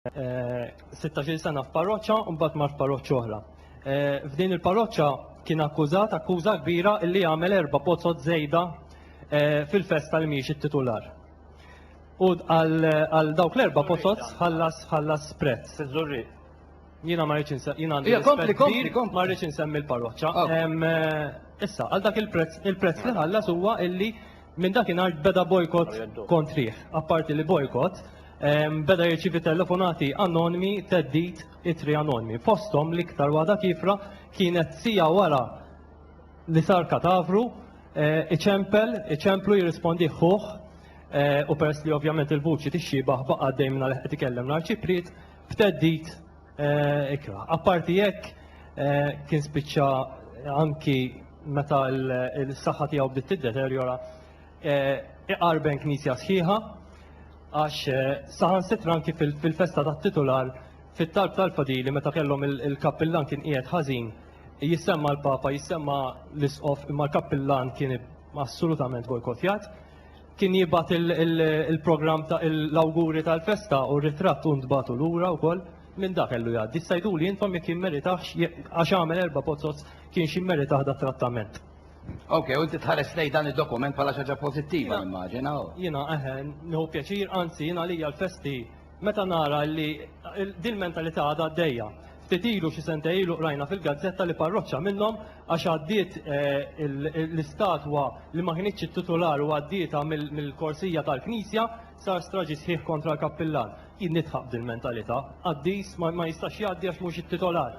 16-il sena f'parroċċa u mbagħad mar f'parroċċa oħra. F'din il-parroċċa kien akkużat akkuża kbira li għamel erba' pozzot żejda fil-festa li mhijiex it-titular. U għal dawk l-erba' pozzot ħallas ħallas prezz. Sizzurri. Jiena ma rridx insemmi. Jiena għandi. Kompli, kompli, kompli. Ma rridx insemmi l-parroċċa. Issa, għal dak il-prezz, il-prezz li ħallas huwa illi Minn dakinhar beda bojkott kontrih. Apparti li bojkott, beda jirċievi telefonati anonmi, theddid, ittri anonmi. Fosthom l-iktar waħda kiefra kienet siegħa wara li sar katavru, iċempel, iċemplu jirrispondih ħuh u peress li ovvjament il-vuċi tixxiebah baqa' għaddej mingħajr qed ikellem l-Arċipriet, b'theddid, Ikra. Apparti hekk, kien spiċċa anki meta l-saħħa tiegħu bdiet tiddeterjora, iqarben knisja sħiħa għax saħansitra anki fil-festa tat-titular fit-talb tal-fadili meta kellhom il-kappillan kien qiegħed ħażin jissemma l-Papa, jissemma l-Isqof imma l-kappillan kien assolutament bojkottjat. Kien jibgħat il-programm ta' l-awguri tal-festa u r-ritratt u ntbagħtu lura wkoll. Minn da kellu jgħaddi. Issa jiduli intom jekk jimmeritahx għax għamel erba' pozzoz kienx jimmeritah da trattament. Ok, u inti tħares lejn dan id-dokument bħala xi ħaġa pożittiva nimmaġina? Jiena eħe, nieħu pjaċir, anzi jien għalija l-festi Meta nara li din il-mentalità għadha għaddejja. Ftit ilu xi sentej ilu qrajna fil-gazzetta li parroċċa minnhom għax għaddiet l-istatwa li ma kinitx it-titular u għaddietha mill-korsija tal-knisja sar straġi sħiħ kontra l-kappillan. Jien nidħaq b'dil-mentalità. Qaddis ma jistax jgħaddi għax mhux it-titolar.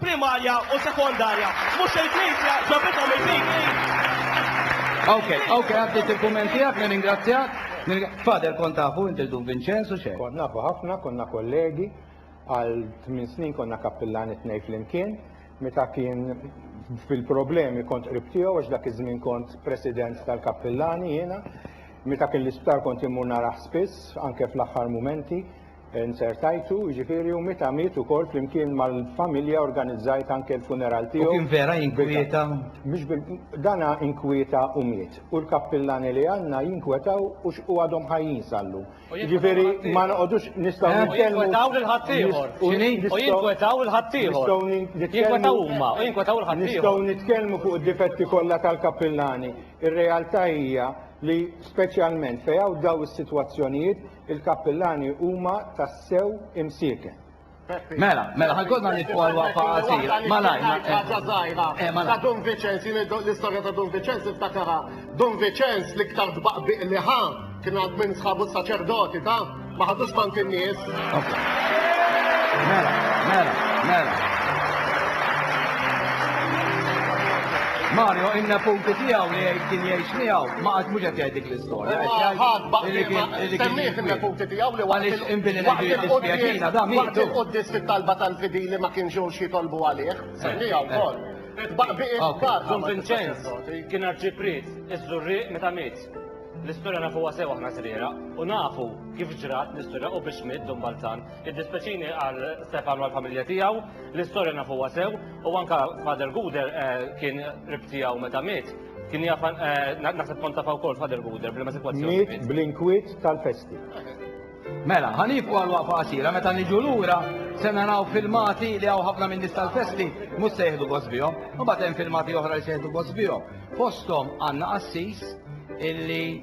primarja u sekondarja. Mhux il-Knisja ġabithom il-PK. Ok, ok, għaddit il-kumment tiegħek, nirringrazzjak. Fader kont tafu inti l-Dun Vinċenzu xejn. Kont nafu ħafna, konna kollegi, għal tmien snin konna kappillani t-tnejn flimkien. Meta kien fil-problemi kont qrib tiegħu għax dak iż-żmien kont president tal-kappillani jiena. Meta kien l-isptar kont immur narah spiss, anke fl-aħħar mumenti. Nzertajtu, jiġifieri, u meta miet ukoll flimkien mal-familja organizzajt anke l-funeral tiegħu. U kien vera jinkwieta? Mhux bil. Dana inkwieta u miet. U l-kappillani li għandna jinkwetaw u x', u għadhom ħajjin sal-lum. Jiġifieri ma noqogħdux nistgħu nitkellmu. U jinkwetaw lil ħaddieħor. X'inhi? U jinkwetaw lil ħaddieħor. Jinkwetaw huma u jinkwetaw lil ħaddieħor. Nistgħu nitkellmu fuq id-difetti kollha tal-kappillani. Ir-realtà hija li speċjalment fejn hawn dawn is-sitwazzjonijiet, Il-kappillani huma tassew imsieken. Mela, mela, ħankodna nitfu għal waqfa għasira. Malaj, ma ħaġa zaħira. Eh, eh, ta' Don Vicenz, l-istoria ta' Don Vicenz iftakara. Don Vicenz li ktar dbaqbiq li ħa, kien għad minn sħabu saċerdoti, ta' ma ħadux tant in-nies. Mela, mela, mela. Mario, inna punti tijaw li kien jgħix miegħu. Ma qatt mhux qed jgħid dik l-istorja. Imma ħadd baqtiema semmih fin-neputi tiegħu li waqt il-quddies waqt il-quddies fit-talba tal-fidili ma kienx ġewx jitolbu għalih. Semmiha wkoll. Baqbieqiet kbar. Dun Vinċenz kien arċipriet iż-Żurrieq meta miet. L-istorja nafuha sew aħna żriegħra u nafu kif ġrat l-istorja u biex miet Dun Balzan. Iddispjaċini għal Stefan u għall-familja tiegħu, l-istorja nafuha sew u anke Father Guder kien qrib tiegħu meta miet. Kien jaf naħseb kont tafa wkoll Father Guder bl-ma sitwazzjoni. Miet bl-inkwiet tal-festi. Mela, ħanibqu għal waqfa qasira meta niġu lura se naraw filmati li hawn ħafna minn nies tal-festi mhux se jieħdu gost bihom, u bagħad hemm filmati oħra li se jieħdu gost bihom. Fosthom għandna qassis illi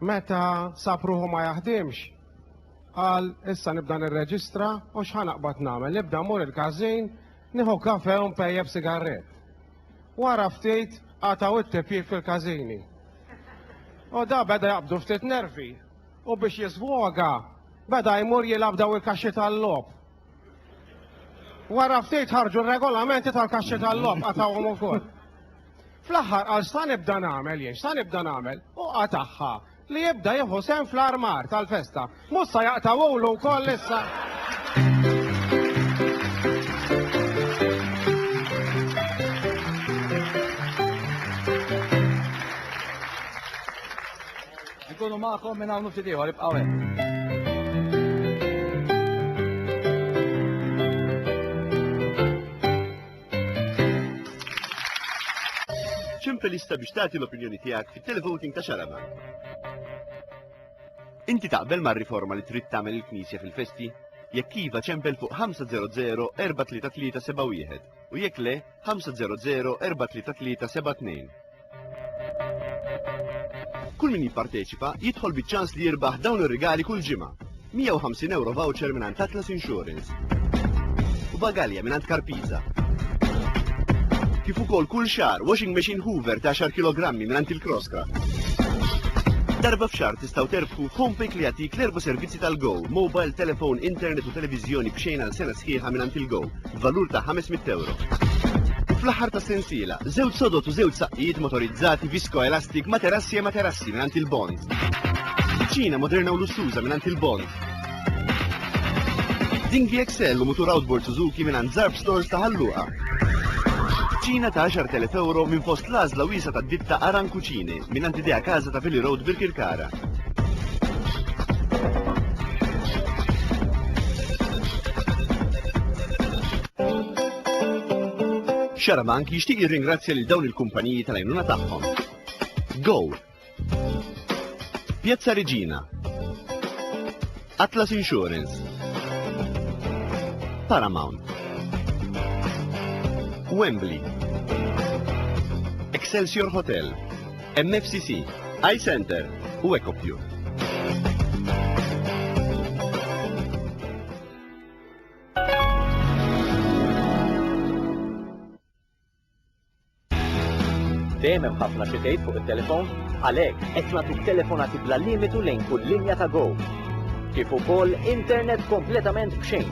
Meta sab ruħu ma jaħdimx, qal issa nibda nirreġistra u x'ħa naqbad nagħmel, nibda mmur il-każin, nieħu kafe u npejjep sigarrett. Wara ftit qatgħu it-tipjip fil-każini. U da beda jaqbdu ftit nervi u biex jiżwoga beda jmur jilgħab daw il-kaxxi tal-logħob. Wara ftit ħarġu r-regolamenti tal-kaxxi tal-logħob qatgħuhom ukoll. Fl-aħħar qal x'sa nibda nagħmel jien, x'sa nibda nagħmel, u qatagħha li jibda jieħu sehem fl-armar tal-festa. Mhux sa jaqtgħulu wkoll issa! Inkunu magħkom minn hawn u ftit ieħor, ibqgħu hekk. Ċempel lista biex tagħti l-opinjoni tiegħek fit-televoting ta' Xarama. Inti taqbel mar-riforma li trid tagħmel il-Knisja fil-festi? Jekk iva ċempel fuq 500-43371 u jekk le 500-43372. Kull min jipparteċipa jidħol biċ-ċans li jirbaħ dawn ir-rigali kull ġimgħa. 150 euro voucher minn Atlas Insurance. U bagalja minn Karpiza. Kif ukoll kull xar washing machine Hoover ta' 10 kg minn il-Crosscraft. Darba f'xar tistaw terbħu Homepay li jagħtik l-erba' servizzi tal-Go, mobile, telefon, internet u televiżjoni b'xejn għal sena sħiħa minn il-Go. b'valur ta' 500 ewro. U fl-aħħar ta' sensiela, żewġ sodod u żewġ saqqijiet motorizzati viskoelastik materassi e materassi mingħand il-Bond. Kuċina moderna u lussuża mingħand il-Bond. Dinghi Excel u mutur outboard Suzuki mingħand Zarf Stores ta' Ħalluqa. Kuċina ta' 10,000 ewro minn fost l-għażla wiesa' tad-ditta Aran Kuċini. Mingħand Idea Casa ta' Vili Road Birkirkara. Xarabank jixtieq jirringrazzja lil dawn il-kumpaniji tal-għajnuna tagħhom. Go! Piazza Regina, Atlas Insurance. Paramount. Wembley. Excelsior Hotel. MFCC. iCenter u EcoPure. Dejjem hemm ħafna xi tgħid fuq it-telefon, għalhekk qed nagħtu telefonati bla limitu lejn kull linja ta' Go. Kif ukoll internet kompletament b'xejn.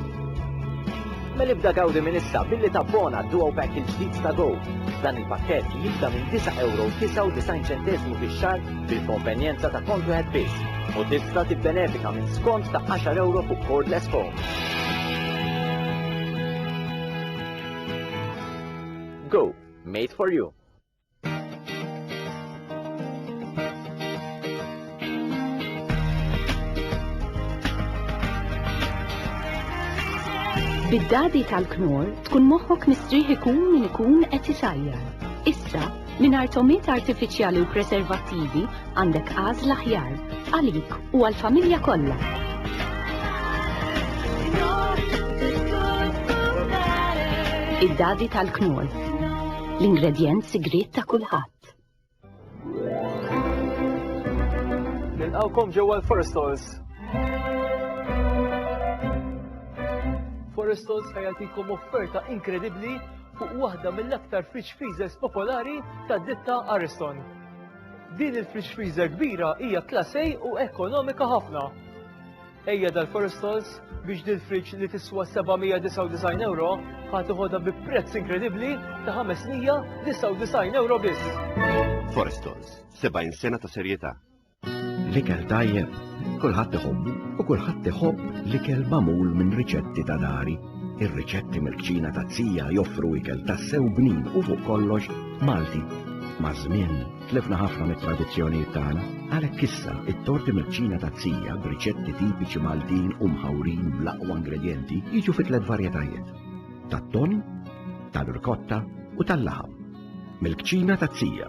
Mel ibda gawdi minn issa billi tabbona duo pack il-ġdid ta' Go. Dan il-pakkett jibda minn 9 euro 99 ċentesmu fix-xahar bil-konvenjenza ta' kont wieħed biss u tista' tibbenefika minn skont ta' 10 euro fuq cordless phone. Go! Made for you! Bid-dadi tal-knor tkun moħħok mistrieħ ikun min ikun qed isajjar. Issa Mingħajr togħmiet artifiċjali u preservattivi għandek għażla aħjar għalik u għall-familja kollha. Id-dadi tal-knol. L-ingredjent sigriet ta' kulħadd. Nilqawkom ġewwa l-Forest Halls. Forest Halls ħajatikom offerta inkredibbli fuq waħda mill-aktar fridge freezers popolari tad-ditta Ariston. Din il-fridge freezer kbira hija Class A u ekonomika ħafna. Ejja dal-Forestalls biex din fridge li tiswa 799 euro ħad iħodha bi prezz inkredibbli ta' 599 euro biss. Forestalls, 70 sena ta' serjetà. L-ikel tajjeb, kulħadd iħobbu u kulħadd iħobb l-ikel magħmul minn riċetti ta' dari. Ir-riċetti mill-kċina ta' Zija joffru ikel tassew bnin u fuq kollox Malti. Maż-żmien, tlifna ħafna mit-tradizzjonijiet tagħna, għalhekk issa t-torti mill-kċina ta' Zija b'riċetti tipiċi Maltin u mħawrin bl-aqwa ingredjenti jiġu fi tliet varjetajiet, tat-tonn, tal-rikotta u tal-laħam. Mill-kċina ta' Zija.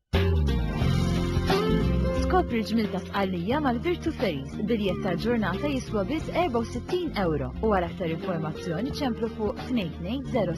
Skopri l-ġmil ta' Sqallija mal-Virtu Ferries, biljett tal-ġurnata jiswa biss 64 euro u għal aktar informazzjoni ċemplu fuq 2206